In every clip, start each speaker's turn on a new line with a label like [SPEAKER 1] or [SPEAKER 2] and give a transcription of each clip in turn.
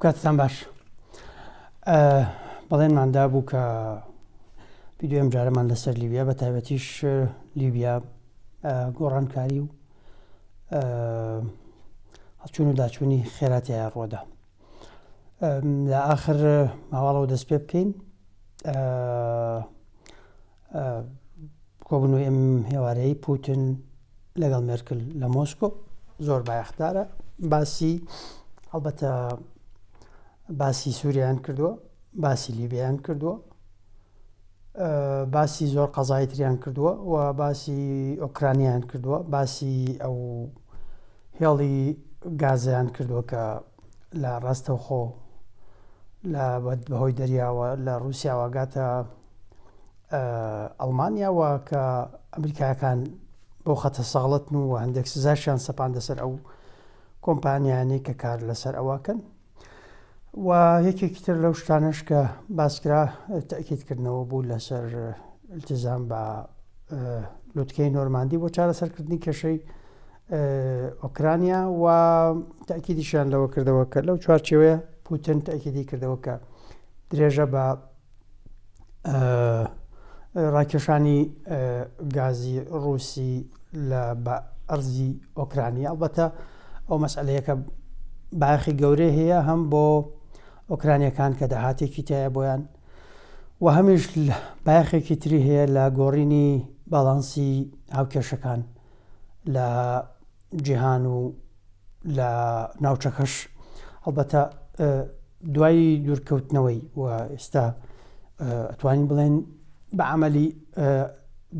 [SPEAKER 1] کاتتان باش بەڵێنماندا بوو کە ویددیوم جارەمان لەسەر لیبیا بە تایبەتیش لیبیا گۆڕانکاری و هەڵچون و داچوونی خێراتیایە ڕۆدا لە ئاخر ماواڵەوە دەست پێ بکەین کۆبنەوەی ئەم هێوارەی پوتن لەگەڵ مێرکل لە مۆسکۆ زۆر بایەخدارە باسی هەڵبەتە باسی سووریان کردووە باسی لیبیان کردووە باسی زۆر قەزای تریان کردووە و باسی ئۆکرانیان کردووە باسی ئەو هێڵی گازیان کردووە کە لە ڕاستەوخۆ لە بەهۆی دەریاوە لە ڕوسیاواگاتە ئەڵمانیا و کە ئەمریکایەکان بۆ خەتە ساڵتن و هەندێک سزاشیان سەپاندە سەر ئەو کۆمپانیانی کە کار لەسەر ئەوەکەن و یەکێکی تر لەو شتانش کە باسکرا تاکیدکردنەوە بوو لەسەر التزام بە لوتکەی نۆرماندی بۆ چارەسەرکردنی کێشەی ئۆکرانیا و تاکیدیشیان لەوە کردەوە کە لەو چوارچەوەیە پوتن تاکیدی کردەوە کە درێژە بە ڕاکێشانی گازی ڕووسی لە بە ئەرزی ئۆکرانی ئەڵبەتە ئەو مەسلەیەکە باخی گەورەی هەیە هەم بۆ ئۆکرانیەکان کە داهاتێکی تایە بۆیان و هەمیش باخێکی تری هەیە لە گۆڕینی باڵانسی هاوکێشەکان لە جیهان و لە ناوچەکەش هەڵبەتە دوایی دوورکەوتنەوەی و ئێستا ئەتوانین بڵێن بە عملی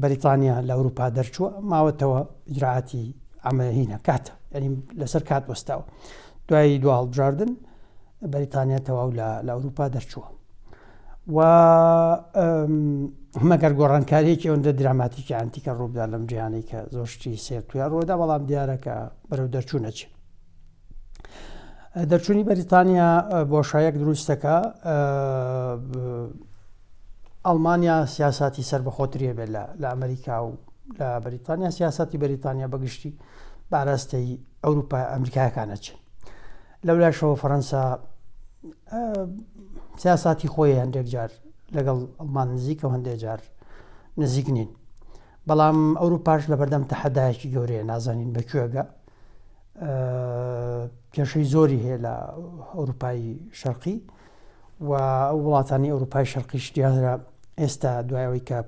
[SPEAKER 1] بەریتانیا لە ئەوروپا دەرچووە ماوەتەوە ئجراعاتی ئەمەهی نەکاتە ئەریم لەسەر کات وەستاوە دوایی دو هەڵبژاردن بەریتانیا تەواو لە ئەوروپا دەرچووە و مەگەر گۆڕانکاریەکی ئەوەندە دراماتیکی ئەنتیکە ڕووبدا لەم جیهانی کە زۆر شتی سێر تویا ڕۆدا بەڵام دیارەکە بەرەو دەرچوونەچ دەرچوونی بەریتانیا بۆشایەک دروستەکە ئەڵمانیا سیاستی سەر بەخۆتریە بێت لە ئەمریکا و لە بەریتانیا سیاستی بەریتانیا بەگشتی باراستەی ئەوروپا ئەمریکایەکانە چین لەولاشەوە فەرەنسا سیاساتی خۆی هەندێک جار لەگەڵ ئەڵمان نزیکە و هەندێک جار نزیک نین بەڵام ئەوروپاش لە بەردەم تەحەدایکی گەورەیە نازانین بەکوێگە کێشەی زۆری هەیە لە ئەوروپایی شەرقی و ئەو وڵاتانی ئەوروپای شەرقیش دیارە ئێستا دوای ئەوەی کە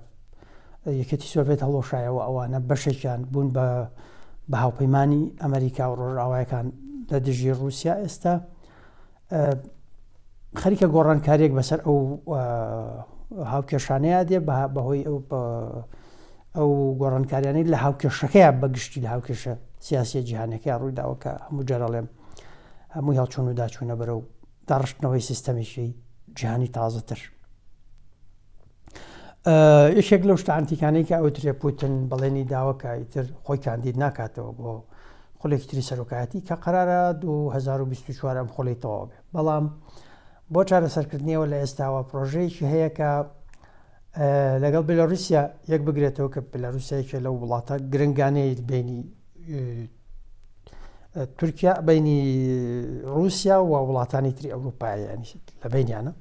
[SPEAKER 1] یەکێتی سۆڤێت هەڵۆشایەوە ئەوانە بەشێکیان بوون بە بە هاوپەیمانانی ئەمریکا و ڕۆژئاوایەکان لە دژی رووسیا ئێستا خەریکە گۆڕانکاریێک بەسەر ئەو هاوکێشانەیە دێ بەهۆی ئەو ئەو گۆڕانکاریانی لە هاوکێشەکەیان بەگشتی لە هاوکێشە سیاسی جیهانەکەی ڕوویداوە کە هەموو جارەڵێم هەمووی هەڵچوون و داچوونە بەرە و داڕشتنەوەی سیستەمێکی جیهانی تازەتر یەکێک لەو شتانتیکانەی کە ئەو ترێ پوتن بەڵێنی داوە کە ئیتر خۆی کاندید ناکاتەوە بۆ خولێکی تری سەرۆکایەتی کە قرارە 2024 ئەم خۆلی تەواو بێ بەڵام بۆ چارەسەرکردنیەوە لە ئێستاوە پرۆژەیەکی هەیە کە لەگەڵ بێلاروسیا یەک بگرێتەوە کە بێلاروسیا یەکێ لەو وڵاتە گرنگانەی بینی تورکیا بینی رووسیا و وڵاتانی تری ئەوروپایانی لە بینیانە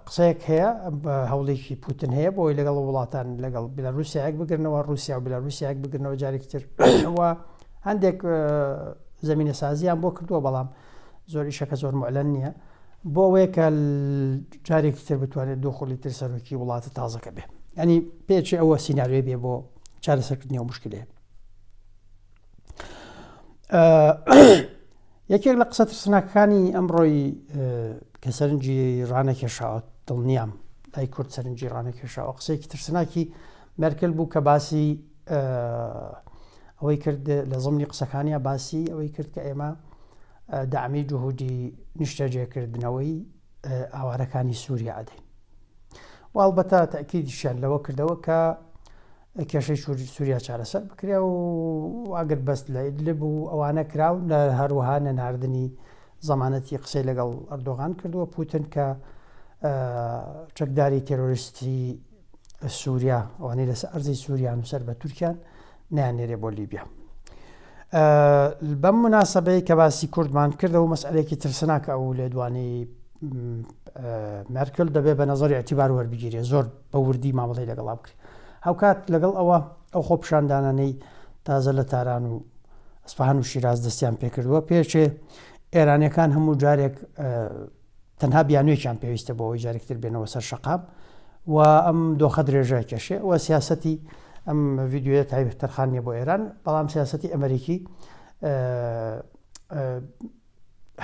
[SPEAKER 1] قسەیەک هەیە بە هەوڵێکی پوتن هەیە بۆی لەگەڵ وڵاتان لەگەڵ بلاروسیایەک بگرنەوە رووسیا و بلاروسیایەک بگرنەوە جارێکتر هەندێک زمینە سازیان بۆ کردووە بەڵام زۆر ئیشەکە زۆر معلەن نییە بۆ ئەوەیە کە جارێکی تر بتوانێت دوو خوڵی تر سەرۆکی وڵاتە تازەکە بێ ئەنی پێچی ئەوە سینناوێ بێ بۆ چارەسەرکردنی و مشکلێ یەکێک لە قسە ترسناکانی ئەمڕۆی کە سەرنجی ڕانەکێشاوە دڵنیام لای کورد سەرنجی ڕانەکێشاوە قسێکی ترسناکی مەرکل بوو کە باسی ئەوەی کرد لە زمنی قسەکانیا باسی ئەوەی کرد کە ئێمە دامی جهودی نیشتەجێکردنەوەی ئاوارەکانی سووریا ئەدەین واڵبەتە تاکیدیشیان لەوە کردەوە کە کێشەی سووریا چارەسەر بکرێ و ئاگر بەست لە ئیدلب و ئەوانە کراون لە هەروەها نەناردنی زمانەتی قسەی لەگەڵ ئەردۆغان کردووە پوتن کە چەکداری تێرۆریستی سوریا ئەوانەی لەسەر ئەرزی سووریان و سەر بە تورکیان نیانێرێ بۆ لیبیا بەم مناسبەی کە باسی کوردمان کردەوە مەسئلێکی ترسناکە ئەو لێدوانی مەرکل دەبێت بە نظری ئەتیبار وەربگیرێ زۆر بە وردی مامەڵی لەگەڵا بکرێت هاوکات لەگەڵ ئەوە ئەو خۆ پیشاندانانەی تازە لە تاران و ئەسپهان و شیراز دەستیان پێکردووە پێچێ ئێرانەکان هەموو جارێک تەنها بیانوێکیان پێویستە بۆ ئەوەی جارێکی تر بێنەوە سەر شەقام و ئەم دۆخە درێژای کێشێ و سیاسەتی ئەم ڤیددیوە تایبەت تەرخان نیە بۆ ئێران بەڵام سیاسەتی ئەمریکی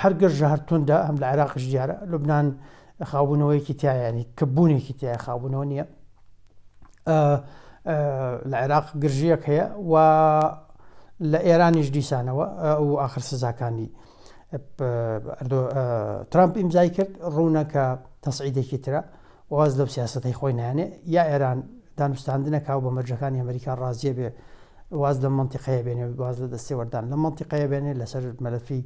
[SPEAKER 1] هەر گەرژە هەر توندا هەم لە عێراقش دیارە لوبناان خاوبوونەوەیەکی تایانی کە بوونێکی تای خاوبوونەوە نییە لە عێراق گرژیەک هەیە و لە ئێرانیش دیسانەوە ئەو آخر سزاکانی ترامپ ئیمزای کرد ڕوونە کە تەسعیدێکی ترە واز لەو سیاستەی خۆی نانێ یا ئێران دانوستاندنە کاو بە مەرجەکانی ئەمریکا ڕازیە بێ واز لە منتیقەیە بێنێ واز لە دەستێوەردان لە منتیقەیە بێنێ لەسەر مەلەفی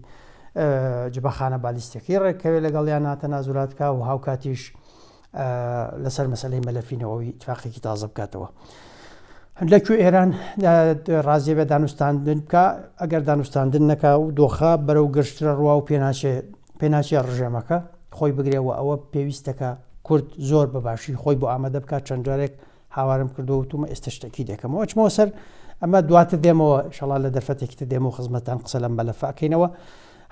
[SPEAKER 1] جبەخانە بالیستەکەی ڕێککەوێ لەگەڵیان ناتە نازولاتکە و هاوکاتیش لەسەر مەسەلەی مەلەفی نەوەوی ئیتفاقێکی تازە بکاتەوە لە کوێ ئێران ڕازیە بە دانوستاندن بکە ئەگەر دانوستاندن نەکا و دۆخە بەرەو گەشترە ڕوا و پێناچێ پێناچێ ڕژێمەکە خۆی بگرێەوە ئەوە پێویستەکە کورد زۆر بەباشی خۆی بۆ ئامادە بکات چەند جارێک هاوارم کردو وتومە ئێستا شتەکی دەکەمەوە ئەچمەوە سەر ئەمە دواتر دێمەوە شڵا لە دەرفەتێکی تر دێمەوە خزمەتان قسە لەم بەلەفەکەینەوە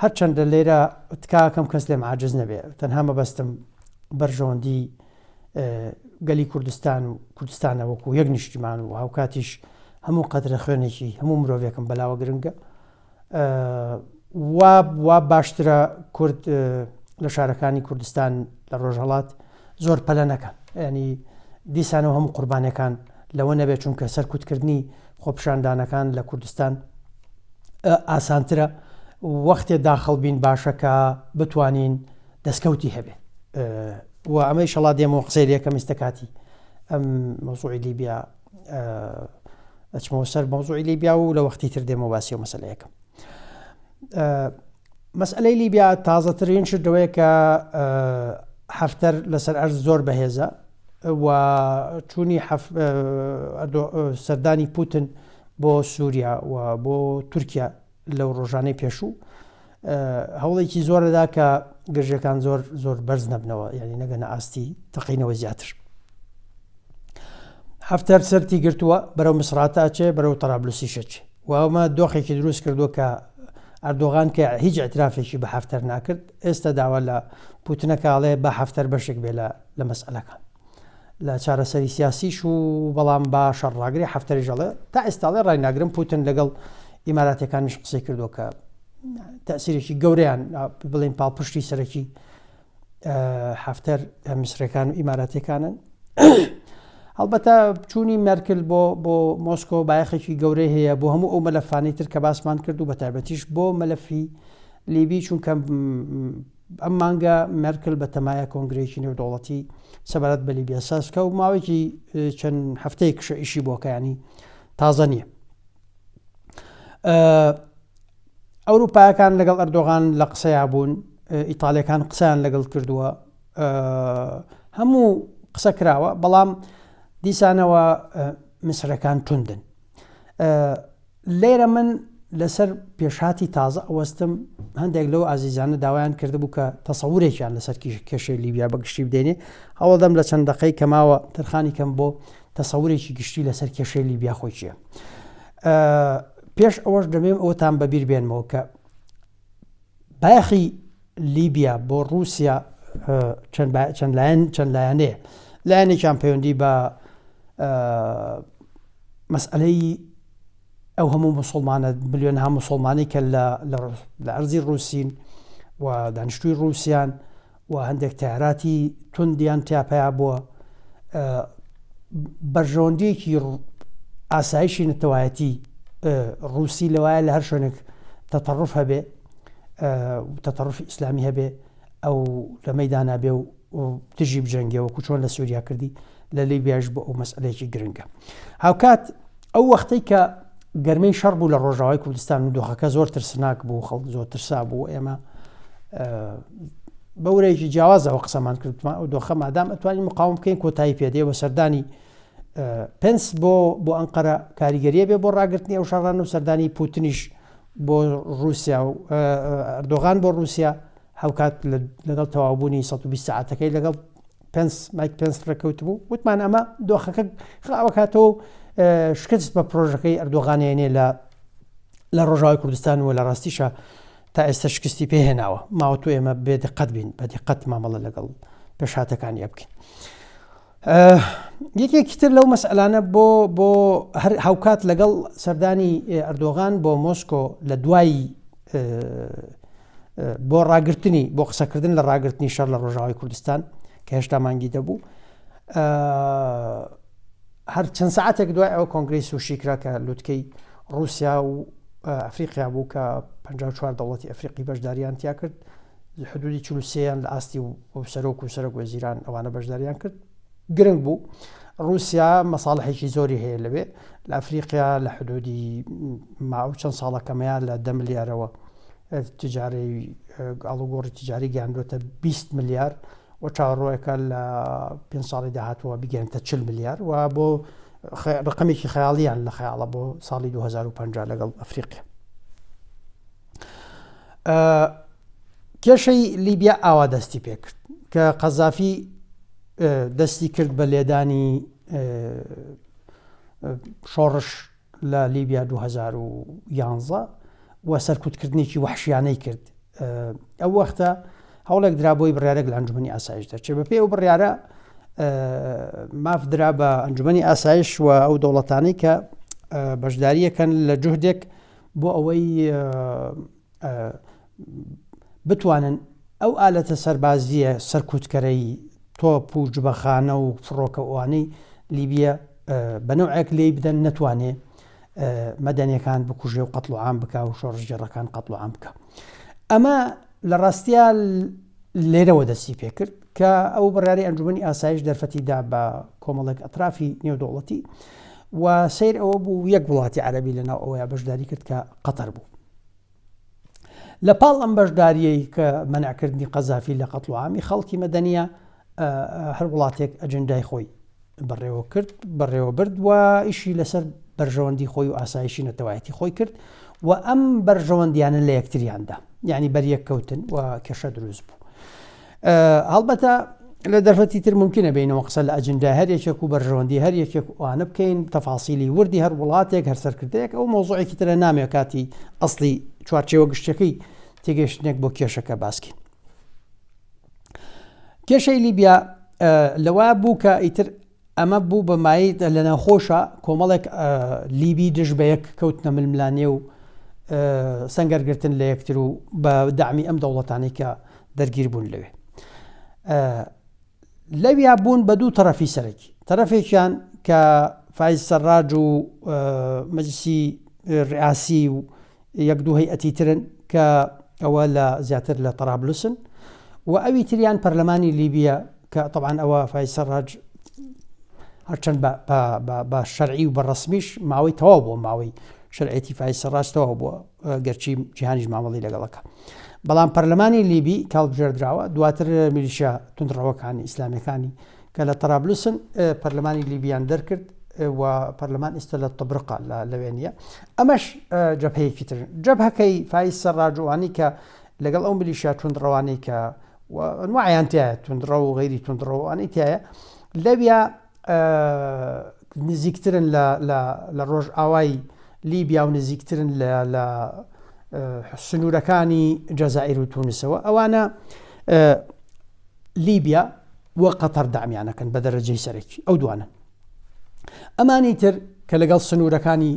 [SPEAKER 1] هەرچەندە لێرە تکاکەم کەس لێم عجز نەبێ تەنها مەبەستم بەرژەوەندی گەلی کوردستان و کوردستانە وەکو یەک نیشتیمان و هاوکاتیش هەموو قەترە خوێنێکی هەموو مرۆڤێکم بەلاوە گرنگە وا وا باشترە کورد لە شارەکانی کوردستان لە ڕۆژهڵات زۆر پەلە نەکەن ینی دیسانەوە هەموو قوربانەکان لەوە نەبێت چونکە سەرکوتکردنی خۆپشاندانەکان لە کوردستان ئاسانترە وەختێ داخڵ بین باشەکە بتوانین دەستکەوتی هەبێ و ئەمەی شەڵا دێمەوە قسەی لەکەم ئستە کاتی ئەم مەزوعی لیبیا ئەچمەوە سەر مەزوعی لیبیا و لە وەختی تر دێمە باسی و مەسلەیەەکەم مەسلەی لیبیا تازەترین شدەوەیە کە هەفتەر لەسەر ئەرز زۆر بەهێزە و چوونی سەردانی پوتن بۆ سووریا و بۆ تورکیا لەو ڕۆژانەی پێشوو هەوڵێکی زۆرەدا کە گرژەکان زۆر زۆر بەرز نەبنەوە یعنی نەگەنە ئاستی تەقینەوە زیاتر هەفتەر سەری گرتووە بەرەو مسراتە ئەچێ بەرەو تەرابلوسی شەچ ومە دۆخێکی دروست کردووە کە ئەردۆغان کە هیچ ئەترافێکی بە هەفتەر ناکرد ئێستا داوا لە پوتنەکەڵێ بە هەفتەر بەشێک بێ لە مەسئلەکان لە چارەسەری سیاسیش و بەڵام با شەڕ ڕاگرێ حەفتەریش ئەڵێ تا ئێستاڵێ ڕای ناگرم پوتن لەگەڵ ئیماراتەکانیش قسەی کردو کە تەسیرێکی گەوریان بڵین پاڵپشتی سەرەکی حفتەر میسرەکان و ئیماراتەکانن هەڵبەتە چوونی مەرکل بۆ بۆ مۆسکۆ بایەخێکی گەورەی هەیە بۆ هەموو ئەو مەلەفانی تر کە باسمان کرد و بە تایبەتیش بۆ مەلەفی لیبی چونکە ئەم مانگە مێرکل بەتەمایە کۆنگرەیەکی نێودەوڵەتی سەبارەت بە لیبیا سازکە و ماوەیەکی چەند هەفتەیە کشە ئیشی بۆکەیانی تازە نییە. ئەوروپایەکان لەگەڵ ئەردۆغان لە قسەیا بوون ئیتالەکان قسەیان لەگەڵ کردووە هەموو قسە کراوە بەڵام دیسانەوە مسرەکان توندن لێرە من لەسەر پێشهاتی تازە ئەوەستم هەندێک لەو ئازیزانە داوایان کردبوو کە تەسەورێکیان لەسەر کێشەی لیبیا بە گشتی بدێنێ هەوڵدەم لە چەند دقەی کەماوە تەرخانی کەم بۆ تەسەورێکی گشتی لەسەر کێشەی لیبیا خۆی چیە پێش ئەوەش دەبێم ئەوتان بەبییر بێنمەوە کە بایەخی لیبیا بۆ ڕووسیا چەند لایەن چەند لایەنەیە لایەنێکیان پەیوەندی بە مەسئلەی ئەو هەموو مسلمانە بلیۆن هەم مسلمانی کە لە ئەرزی ڕووسین و دانیشتوی ڕووسیان و هەندێک تەیاراتی توندیان تیا پەیا بووە بەرژەوەندیەکی ئاسایشی نەتەوایەتی ڕووسی لەوایە لە هەر شوێنێک تەتەڕف هەبێ تەتەڕفی ئیسلامی هەبێ ئەو لە مەدانا بێ و دژی بجەنگەوە کوچۆن لە سووریا کردی لە لیبیاش بۆ ئەو مەسئلەیەکی گرنگە هاوکات ئەو وەختەی کە گەرمەی شەڕ بوو لە ڕۆژاوای کوردستان و دۆخەکە زۆر ترسناک بوو خەڵ زۆر ترسا بوو ئێمە بەورێکی جیاوازەوە قسەمان کردمان ئەو دۆخە مادام ئەتوانی مقاوم بکەین کۆتایی پێدێ بە سەردانی پنس بۆ بۆ ئەنقەرە کاریگەریە بێ بۆ ڕاگررتنی ئەو شەڕان و سەردانی پوتنیش بۆ رووسیا و ئەردۆغان بۆ رووسیا هاوکات لەگەڵ تەواوبوونی 120 ساعتەکەی لەگەڵ پێنس مایک پێنس ڕێکەوت بوو وتمان ئەمە دۆخەکە خراوەکاتەوە شکست بە پرۆژەکەی ئەردۆغانێنێ لە لە ڕۆژاوی کوردستان و لە ڕاستیشە تا ئێستا شکستی پێهێناوە ماوەتو ئێمە بێ دقەت بین بە دقەت مامەڵە لەگەڵ پێشاتەکانی بکەین یەکێکی تر لەو مەسئلانە بۆ بۆ هەر هاوکات لەگەڵ سەردانی ئەردۆغان بۆ مۆسکۆ لە دوایی بۆ ڕاگررتنی بۆ قسەکردن لە ڕاگررتنی شەر لە ڕۆژاوی کوردستان کە هێشتا مانگی دەبوو هەر چەند ساعتێک دوای ئەو کۆنگری سوشی کرا کە لوتکەی رووسیا و ئەفریقیا بوو کە 54 دەوڵەتی ئەفریقی بەشداریان تیا کرد حدودی چلوسیان لە ئاستی و سەرۆک و سەرۆک وەزیران ئەوانە بەشداریان کرد گرنگ بوو رووسیا مەساڵحێکی زۆری هەیە لەوێ لە ئەفریقیا لە حدودی ماو چەند ساڵەکەمەیە لە دە ملیارەوە تجاری ئاڵوگۆڕی تجاری گەیاندوێتە 20 ملیار و چاڕۆیەکە لە پێ ساڵی داهاتوە بگەێنتە 40 ملیار و بۆ ڕقمێکی خەیاڵیان لە خەیاڵە بۆ ساڵی 2050 لەگەڵ ئەفریقیا کێشەی لیبیا ئاوا دەستی پێکرد کە قەزافی دەستی کرد بە لێدانی شۆڕش لە لیبیا دوو هەزار و یانزە وە سەرکوتکردنێکی وحشیانەی کرد ئەو وەختە هەوڵێک درا بۆی بڕارێک لە ئەنجومی ئاسایش دەرچێ بەپێ ئەو بڕارە ماف درا بە ئەنجومی ئاسایش و ئەو دەوڵەتانی کە بەشداریەکەن لە جوهدێک بۆ ئەوەی بتوانن ئەو ئالەتە سەربازیە سەرکوتکەرەی تۆپ و جبەخانە و فڕۆکەوانەی لیبیە بەنەوەک لی بدەن نەتوانێ مەدەنەکان بکوژێ و قەتڵوعام بک و شۆڕژگەڕەکان قەتڵوعام بکە ئەمە لە ڕاستیا لێرەوە دەستی پێکرد کە ئەو بڕاری ئەنجومی ئاسایش دەرفەتیدا بە کۆمەڵێک ئەطرافی نێودوڵەتی و سیر ئەوە بوو یەک وڵاتی عەربی لەناو ئەوەیە بەشداری کرد کە قەتەر بوو لە پاڵ ئەم بەشداریەی کە مەنعکردنی قەزافی لە قەتڵ عامی خەڵکی مەدەنیە هەر وڵاتێک ئەجندای خۆی بەڕێوە کرد بەڕێوە برد و ئیشی لەسەر بەرژەوەندی خۆی و ئاسایشی نەتەوایەتی خۆی کرد و ئەم بەرژەوەندیانە لە یەکتریاندا یعنی بەریەک کەوتن و کێشە دروست بوو. هەڵبەتە لە دەرفەتی تر ممکنە بینەوە قسە لە ئەجندا هەر یەکێک و بەرژەوەندی هەر یەکێک وانە بکەین تەفاسیلی وردی هەر وڵاتێک هەر سەرکردەیەک ئەو مۆزۆێکی ترە نامێ کاتی ئەسلی چوارچێوە گشتەکەی تێگەشتنێک بۆ کێشەکە باسکین کێشەی لیبیا لەوا بوو کە ئیتر ئەمە بوو بە مایەی لەناوخۆشە کۆمەڵێک لیبی دژ بە یەک کەوتنە ململانێ و سەنگەرگرتن لە یەکتر و بە دامی ئەم دەوڵەتانی کە دەرگیر بوون لەوێ لەویا بوون بە دوو تەرەفی سەرەکی تەرەفێکیان کە فیز سەرراج و مەجسی ڕاسی و یەک دوو هەیئەتی ترن کە ئەوە لە زیاتر لە طەرابلسن و ئەوی تریان پەرلەمانی لیبیە کە طبعاان ئەوە فای سەرڕاج هەرچەند بە شەرعی و بە ڕسمیش ماوەی تەواو بۆ ماوەی شەرعێتی فای سەرڕاستەوە بۆ گەرچی جیهانیش مامەڵی لەگەڵەکە بەڵام پەرلەمانی لیبی کاڵبژێردراوە دواتر میلیشە تونندڕەوەکانی ئیسلامیەکانی کە لە طەرابلسن پەرلەمانی لیبیان دەرکرد و پەرلەمان ئێستا لە طبرقا لە لەوێنە ئەمەش جەبهەیەکی تر جەبهەکەی فایز سەرڕاجوانی کە لەگەڵ ئەو ملیشیا توندڕەوانەی کە نوعیان تایە توندڕە و غیری توندڕەوانەی تایە لەویا نزیکترن لە ڕۆژ ئاوای لیبیا و نزیکترن لە سنوورەکانی جەزائیر و تونسەوە ئەوانە لیبیا وە قەتەر دامیانەکەن بە دەرەجەی سەرەکی ئەو دوانن ئەمانی تر کە لەگەڵ سنوورەکانی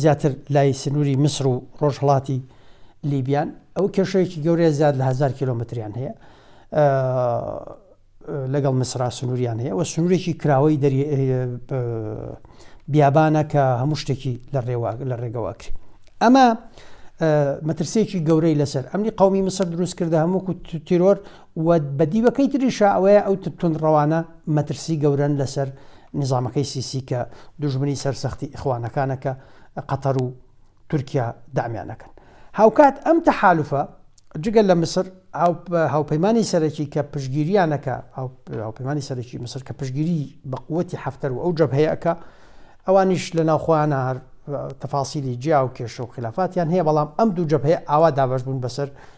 [SPEAKER 1] زیاتر لای سنووری میسر و ڕۆژهڵاتی لیبیان ئەو کێشەیەکی گەورەیە زیاد لە هزار کیلومتریان هەیە لەگەڵ مسرا سنووریان هەیە و سنوورێکی کراوەی دەری بیابانە کە هەموو شتێکی لە ڕێوا لە ڕێگەواکری ئەمە مەترسێکی گەورەی لەسەر ئەمنی قومی مسر دروست کردە هەمووکو تیرۆر و بە دیوەکەی تریشا ئەوەیە ئەو توندڕەوانە مەترسی گەورەن لەسەر نیزامەکەی سیسی کە دوژمنی سەر سەختی ئیخوانەکانە کە قەتەر و تورکیا دامیان دەکەن هاوکات ئەم تەحالوفە جگە لە مسر هاوپەیمانی سەرەکی کە پشگیریانەکە هاوپەیمانی سەرەکی مسر کە پشگیری بە قوتی حفتەر و ئەو جەبهەیەکە ئەوانیش لە ناوخۆیانە هەر تەفاسیلی جیا و کێشە و خلافاتیان هەیە بەڵام ئەم دوو جەبهەیە ئاوا دابش بوون بەسەر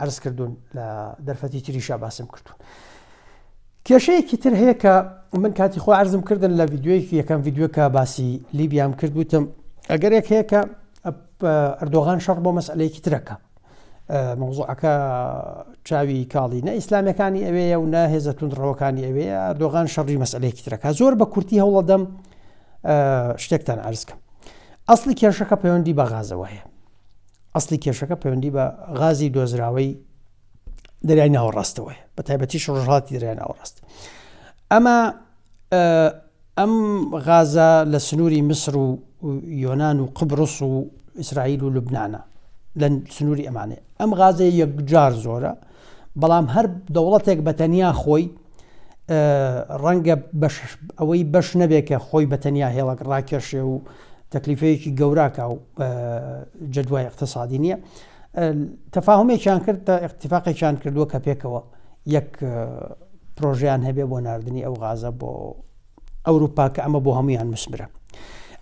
[SPEAKER 1] عەرز کردوون لە دەرفەتی تریشا باسم کردوون. کێشەیەکی تر هەیە کە من کاتی خۆ عرضم کردن لە یددیوەیەکی یەکەم یددیوکە باسی لیبیام کرد وتم ئەگەرێک هەیە کە ئەردۆغان شەڕ بۆ مەسلەیەکی ترەکە مەوزوعەکە چاوی کاڵی نە ئیسلامەکانی ئەوەیە و نە هێزە تونندڕەوەکانی ئەوێ ئەردۆغان شەڕی مەسلەیەکی ترەکە زۆر بە کورتی هەوڵەدەم شتێکتان ئارزکەم ئەسلی کێشەکە پەیوەندی بە غازەوە هەیە ئەسڵی کێشەکە پەیوەندی بە غازی دۆزراوەی دەریای ناوەڕاستەوەی بە تایبەتیش ڕژهاتی دەریای ناوەڕاست ئەمە ئەم غازە لە سنووری میسر و یۆناان و قبرس و ئیسرائیل و لوبناە لە سنووری ئەمانێ ئەم غازە یەکجار زۆرە بەڵام هەر دەوڵەتێک بە تەنیا خۆی ڕەنگە ئەوەی بەش نەبێت کە خۆی بە تەنیا هێڵک ڕاکێشێ و تەکلیفەیەکی گەوراکە و جەدوای اقتصادی نییە تەفاهمێکیان کرد تا اقتفاقێکیان کردووە کە پێکەوە یەک پرۆژیان هەبێ بۆ نردنی ئەو غازە بۆ ئەوروپا کە ئەمە بۆ هەمویان مسمرە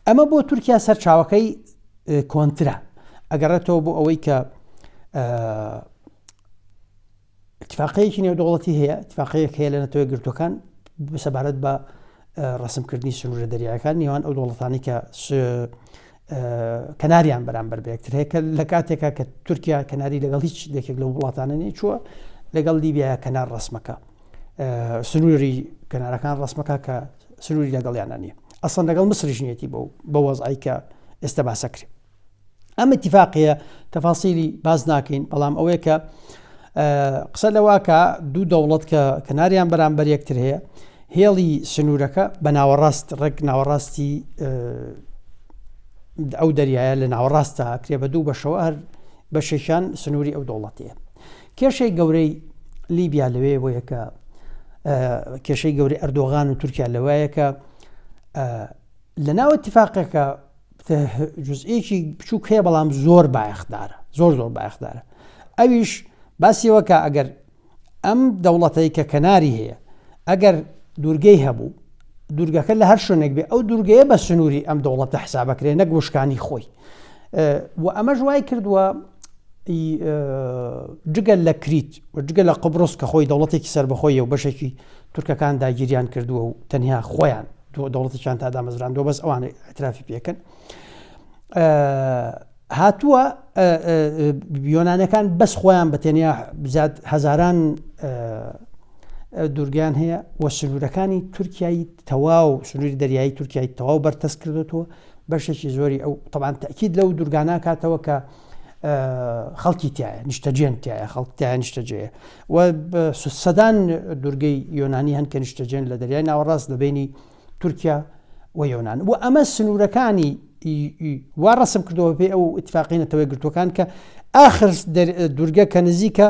[SPEAKER 1] ئەمە بۆ تورکیا سەرچاوەکەی کۆنترا ئەگەڕێتەوە بۆ ئەوەی کە ئیتفاقەیەکی نێودەوڵەتی هەیە ئیتفاقەیەک هەیە لە نەتەوە گرتوەکان سەبارەت بە ڕسمکردنی سنوورە دەریایەکان نێوان ئەو دەوڵەتانی کە کەناریان بەرامبەر بەکتر هەیە کە لە کاتێکا کە تورکیا کەناری لەگەڵ هیچ دەکێک لە وڵاتانە نێ چووە لەگەڵ لیبیایە کەنار ڕسمەکە سنووری کەنارەکان ڕسمەکە کە سنووری لەگەڵیانە نیە ئەسڵەن لەگەڵ مسرژنیەتی بۆ بە وەزایکە ئێستا باسەکرێت ئەم اتفاقەیە تەفاسیلی باز ناکەین بەڵام ئەوەیە کە قسە لەواکە دوو دەوڵەت کە کەناریان بەرامبەر یەکتر هەیە هێڵی سنوورەکە بە ناوەڕاست ڕێک ناوەڕاستی ئەو دەریایە لە ناوەڕاستە کرێ بە دوو بەشەوە هەر بە شێشان سنووری ئەو دەوڵەتەیە کێشەی گەورەی لیبیا لەوێ بۆ یەکە کێشەی گەوری ئەردۆغان و تورکیا لەوایەکە لە ناو اتفاقەکە جزئێکی بچووک هەیە بەڵام زۆر بایەخدارە زۆر زۆر بایەخدارە ئەویش باسیەوەکە ئەگەر ئەم دەوڵەتەی کە کەناری هەیە ئەگەر دوورگەی هەبوو دوورگەکە لە هەر شوێنێک بێ ئەو دوورگەیە بە سنووری ئەم دەوڵەتە حسابەکرێ نەک وشکانی خۆی و ئەمەش وای کردووە جگەل لە کریت و جگە لە قبرس کە خۆی دەوڵەتێکی سربەخۆی و بەشێکی تورکەکان داگیریان کردووە و تەنیا خۆیان دەوڵەتەکان تا دامەزراندوە بەس ئەوانەی ئەترافی پێکەن هاتووە یۆنانەکان بەس خۆیان بە تەنیا بزات هەزاران دوورگیان هەیە و سنوورەکانی تورکایی تەواو سنووری دەریایی تورکای تەواو بەرتەس کردوەوە بەشێکی زۆری ئەو طبعاان تاکیید لەو دوورگانە کاتەوە کە خەڵکی تایە نیشتەجێن تایە خەڵکتیان نیشتەجێ و سەدان دوورگەی یۆنانی هەن کە نیشتەجێن لە دەریای ناوەڕاست لە بینی تورکیا و یۆنان و ئەمە سنوورەکانی وا ڕسم کردەوە پێ ئەو اتفاقی نەتەوەی گرتوەکان کە ئاخر دوورگە کە نزیکە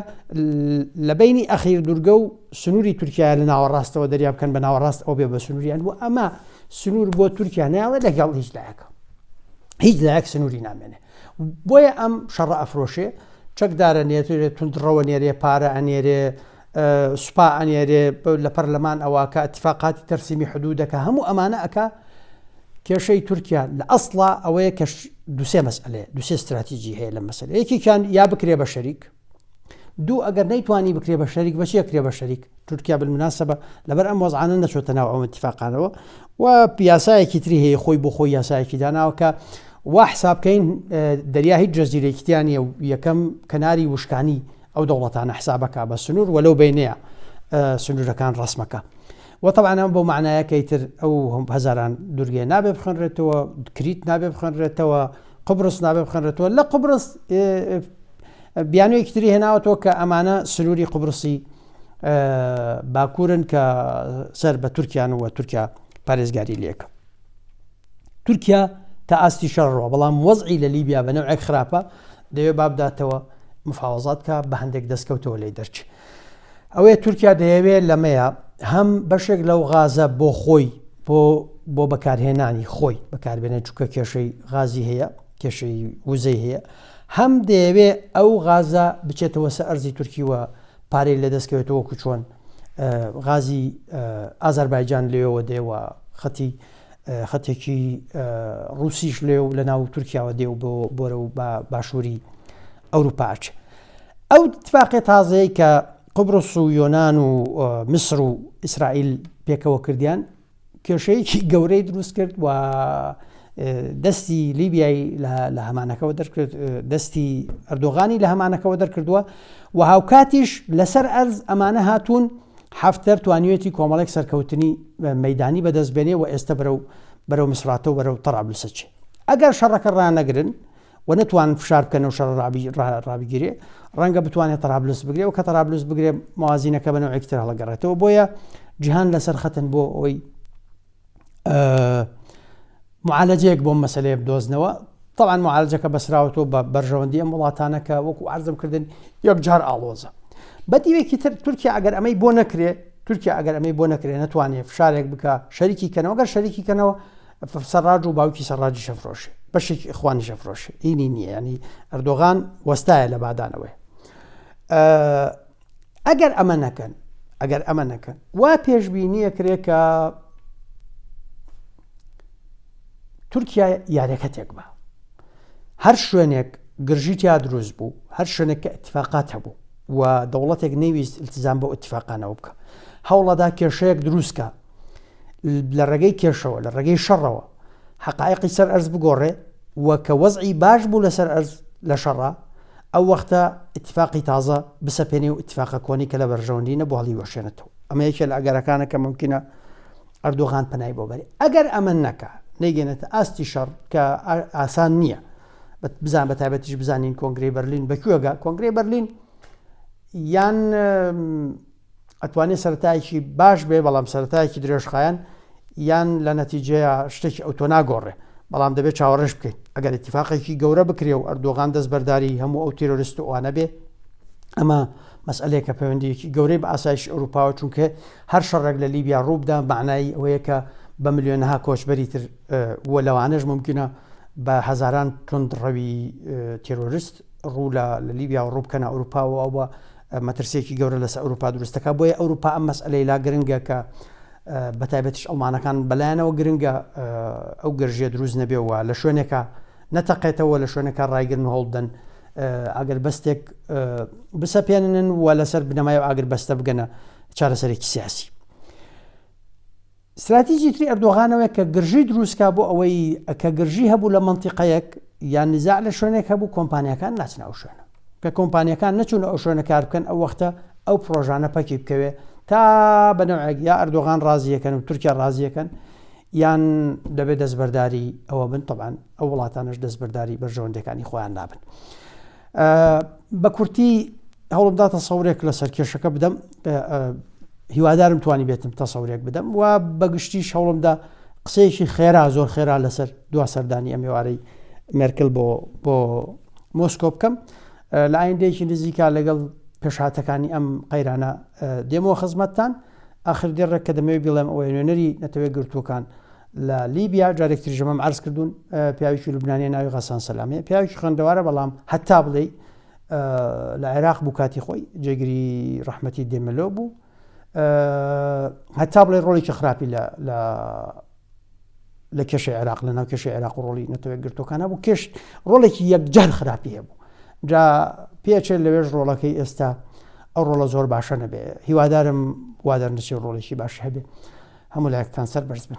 [SPEAKER 1] لە بینی ئەخیر دوورگە و سنووری تورکیا لە ناوەڕاستەوە دەریا بکەن بە ناوەڕاست ئەو بێ بە سنووریان و ئەمە سنوور بۆ تورکیا ناوە لەگەڵ هیچ لایەکە هیچ لایەک سنووری نامێنێ بۆیە ئەم شەڕە ئەفرۆشێ چەکدارە نێتێت تونندڕەوە نێرێ پارە ئەنێرێ سوپا ئەنێرێ لە پەرلەمان ئەواکە اتفاقاتی تەرسیمی حدودەکە هەموو ئەمانە ئەکا کێشەی تورکیا لە ئەسڵا ئەوەیە کەش دوسێ مەسئلێ دوسێ استراتیجی هەیە لە مەسل یەکێکیان یا بکرێ بە شەریک دوو ئەگەر نەیتوانی بکرێ بە شەریک بەچیە کرێ بە شەریک تورکیا بالمناسبە لەبەر ئەم وەزعانە نەچۆتە ناو ئەوە اتفاقانەوە و پیاسایەکی تری هەیە خۆی بۆ خۆی یاسایەکی داناوەکە وا حسابکەین دەریا هیچ جەزیرێکیان یەکەم کەناری وشکانی ئەو دەوڵەتانە حسابەکا بە سنوور و لەو بەینەیە سنوورەکان ڕەسمەکە و طبعا ئەم بۆ معنایەکەی تر ئەو هەم هەزاران دورگێ نابێ بخنرێتەوە کریت نابێ بخنرێتەوە قبرس نابێ بخنرێتەوە لە قبرس بیانوێکی تری هێناوەتەوە کە ئەمانە سنووری قبرسی باکوورن کە سەر بە تورکیان و تورکیا پارێزگاری لەکە تورکیا تا ئاستی شەڕڕوە بەڵام وەزعی لە لیبیا بە نەوەک خراپە دەوێ بابداتەوە مفاوەزات کە بە هەندێک دەستکەوتەوە لی دەرچ ئەوەیە تورکیا دەیەوێت لەمەیە هەم بەشێک لەو غازە بۆ خۆی بۆ بۆ بەکارهێنانی خۆی بەکاربێنێت چووکە کێشەی غازی هەیە کێشەی وزەی هەیە هەم دەیەوێ ئەو غازە بچێتەوە سە ئەرزی تورکیوە پارەی لە دەستکەوێتەوە کوچۆن غازی ئازەربایجان لێەوە دێوە خەتی خەتێکی ڕوسیش لێ و لە ناو تورکیاوە دێ و بۆ بۆرە و بە باشووری ئەوروپا ئەچێ ئەو تفاقێ تازەیە کە قبرس و یۆناان و میسر و ئیسرائیل پێکەوە کردیان کێشەیەکی گەورەی دروست کرد و دەستی لیبیای لە هەمانەکەەوە دەرکرد دەستی ئەردۆغانی لە هەمانەکەەوە دەرکردووە و هاوکاتیش لەسەر ئەرز ئەمانە هاتوون حەفتەر توانیوێتی کۆمەڵێک سەرکەوتنی مەیدانی بەدەست بێنێ و ئێستە بەرەو بەرەو مسراتە و بەرەو تەڕابلسە چێ ئەگەر شەڕەکە ڕانەگرن و نەتوان فشار بکەن و شەڕ ڕابگیرێ ڕەنگە بتوانێت تەرابلوس بگرێ و کە تەرابلوس بگرێ موازینەکە بەەوە ئەکتر هەڵگەڕێتەوە بۆیە جیهان لەسەر خەتن بۆ ئەوی معالەجەیەک بۆ مەسلەیە بدۆزنەوە طبعاان معالجەکە بەسراوەوە بە بەرژەوەندی ئەم وڵاتانەکە وەکو ئازم کردن یەک جار ئاڵۆزە بە دیوێکی تر تورکیا ئەگەر ئەمەی بۆ نەکرێ تورکیا ئەگەر ئەمەی بۆ نەکرێ نتوانێت فشارێک بکە شەریکی کەنەوە گەر شەریکی کەنەوە سەراج و باوکی سەراجی شەفرۆش بەشێک ئەخوانی شەفرۆش ئینی نییە ینی ئەردۆغان وەستایە لە بادانەوەی ئەگەر ئەمە نەکەن ئەگەر ئەمە نەکەن وا پێشببینیە کرێ کە تورکیا یارەکە تێک بە هەر شوێنێک گرژی تیا دروست بوو هەر شوێنێک کە اتفاقات هەبوو و دەوڵەتێک نەویست التزام بۆ اتفاقانەوە بکە هەوڵەدا کێشەیەک دروستکە لە ڕێگەی کێشەوە لە ڕێگەی شەڕەوە حقایقی سەر ئەرز بگۆڕێ و کە وەزعی باش بوو لەسەر ئەرز لە شەڕە ئەو وەختە ئیتیفاقی تازە بسەپێنی و ئیتیفاقە کۆنی کە لە بەرژەوەندی نەبوو هەڵی وەشێنێتەوە ئەمە یەکێ لە ئەگەرەکانە کە ممکنە ئەردۆغان پەنای بۆ بەری ئەگەر ئەمە نەکە نەیگەێنێتە ئاستی شەڕ کە ئاسان نییە بزان بە تایبەتیش بزانین کۆنگری بەرلین بەکوێگە کۆنگری بەرلین یان ئەتوانێت سەرتایەکی باش بێ بەڵام سەرتایەکی درێژخایەن یان لە نەتیجەیە شتێکی ئەوتۆ ناگۆڕێ بەڵام دەبێت چاوەڕێش بکەین ئەگەر اتفاقێکی گەورە بکرێ و ئەردۆغان دەست بەرداری هەموو ئەو تیرۆریست و ئەوانە بێ ئەمە مەسئلەیەکە پەیوەندیەکی گەورەی بە ئاسایش ئەوروپاوە چونکە هەر شەڕێک لە لیبیا ڕووبدا معنایی ئەوەیە کە بە ملیۆنها کۆچبەری تر وە لەوانش ممکنە بە هەزاران تند ڕەوی تێرۆریست ڕوو لە لیبیا و ڕووبکەنە ئەوروپاوە ئەوە مەترسیەکی گەورە لەسەر ئەوروپا دروست دەکات بۆیە ئەوروپا ئەم مەسئلەی لا گرنگە کە بەتایبەتش ئەڵمانەکان بەلایەنەوە گرنگە ئەو گەرژێ دروست نەبێەوە لە شوێنێکە نەتەقێتەوە لە شوێنەکە ڕایگرن هەڵدەن ئەگەر بەستێک بسەپێنن و لەسەر بنەمای و ئاگر بەستە بگەنە چارەسەرێکی سیاسی ستراتیجی تری ئەردۆغانەوەیە کە گرژی دروستکا بۆ ئەوەی کە گرژی هەبوو لە منتیقەیەک یان نزاع لە شوێنێک هەبوو کۆمپانیەکان ناچنە ئەو شوێنە کە کۆمپانیەکان نەچون ئەو شوێنە کار بکەن ئەو وەختە ئەو پرۆژانە پەکی بکەوێت تا بەنەوەک یا ئەردۆغان ڕازیەکەن و تورکیا ڕازیەکەن یان دەبێت دەستبەرداری ئەوە بن طبعاان ئەو وڵاتانش دەستبەرداری بەرژەوەندەکانی خۆیان نابن بە کورتی هەوڵمدا تەسەورێک لە سەرکێشەکە بدەم هیوادارم توانی بێتم تەسەورێک بدەم و بەگشتی شەوڵمدا قسەیەکی خێرا زۆر خێرا لەسەر دوا سەردانی ئەمێوارەی مێرکل بۆ بۆ مۆسکۆ بکەم لە ئایندەیەکی نزیکا لەگەڵ پێشهاتەکانی ئەم قەیرانە دێمەوە خزمەتتان ئاخر دێڕێک کە دەمەوێت بڵێم ئەوەی نوێنەری نەتەوەی گرتوەکان لە لیبیا جارێک تریش ئەمەم عەرز کردوون پیاوێکی لوبنانیە ناوی غەسان سەلامێ پیاوێکی خوێندەوارە بەڵام هەتا بڵێی لە عێراق بوو کاتی خۆی جێگری ڕەحمەتی دێمەلۆ بوو هەتا بڵێ ڕۆڵێکی خراپی لە لە کێشە عێراق لە ناو کێشە عێراق ڕۆڵی نەتەوەێک گرتوەکانە بوو کێشت ڕۆڵێکی یەکجار خراپی هەبوو جا پێچێت لەوێش ڕۆڵەکەی ئێستا ئەو ڕۆڵە زۆر باشە نەبێ هیوادارم وادەرنسی ڕۆڵێکی باش هەبێ هەموو لایکتان سەر بەرز بن.